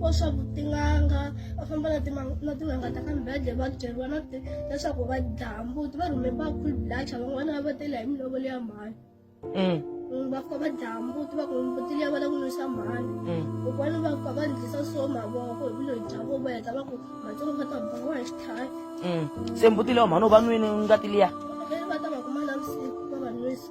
ko swa tin'anga va famba na na tin'anga ta ka mbedle va byeriwa na leswaku va dlaya mbuti va rhume va cool blacha van'wana va va tela hi milovolo ya mhani mm. mm, va fika va dlaya mbuti va ku mbuti liya va la ku nwisa mhani mm. kokwani va fika va ndlisa so mavoko hi vuloyi bya vo va heta va ku matsongo va ta bawa hi xitlhayi se mbuti leyo mhani u va nwini ngati liya va ta va kuma navusiku va va nwisa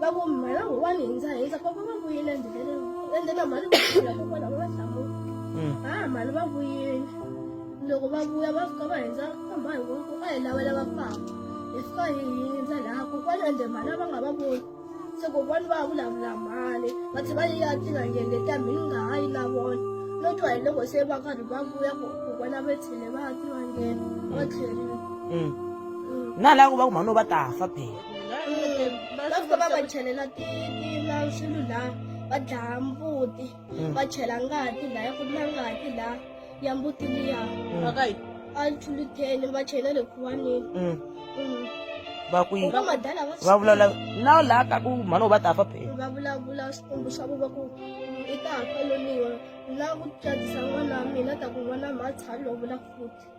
va ku mhana wun'wani hi ndza hindza papa va vuyile endleleni ende na mhani vaula kokwana va va hlamula mm. ha mhani va vuyile loko va vuya va fika va hindza ka mhani ku a hi lavela va papa hi fika hi hindza laha kokwana ende mhani va nga va voni se kokwana va vulavula mhani va tlhe va yiya tinangenge ta mhi nga ha yi na vona no twa hi loko se va karhi va vuya kokwana va tlhele va ya tinangenge va tlherile mm. mm. na laha ku va ku mhani va ta fa phela va fika va va chelela tina swilo la va dlaya mbuti mm. va chela ngati la ya ku na ngati la ya mbuti liya a chuluteni va chela le khuwanini mm. mm. va ku yini va vulavula na laha ka ku mhana u va ta fa phela va vulavula swikombo swa ku va ku i ta fa loniwa na ku tsakisa n'wana wa mina ta ku n'wana mhatsha lovula futhi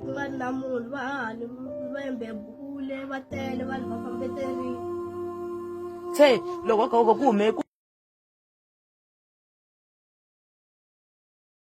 vanhu na munhu va hahani lwembe bule va tele vanhu va fambeterini se loko ku hume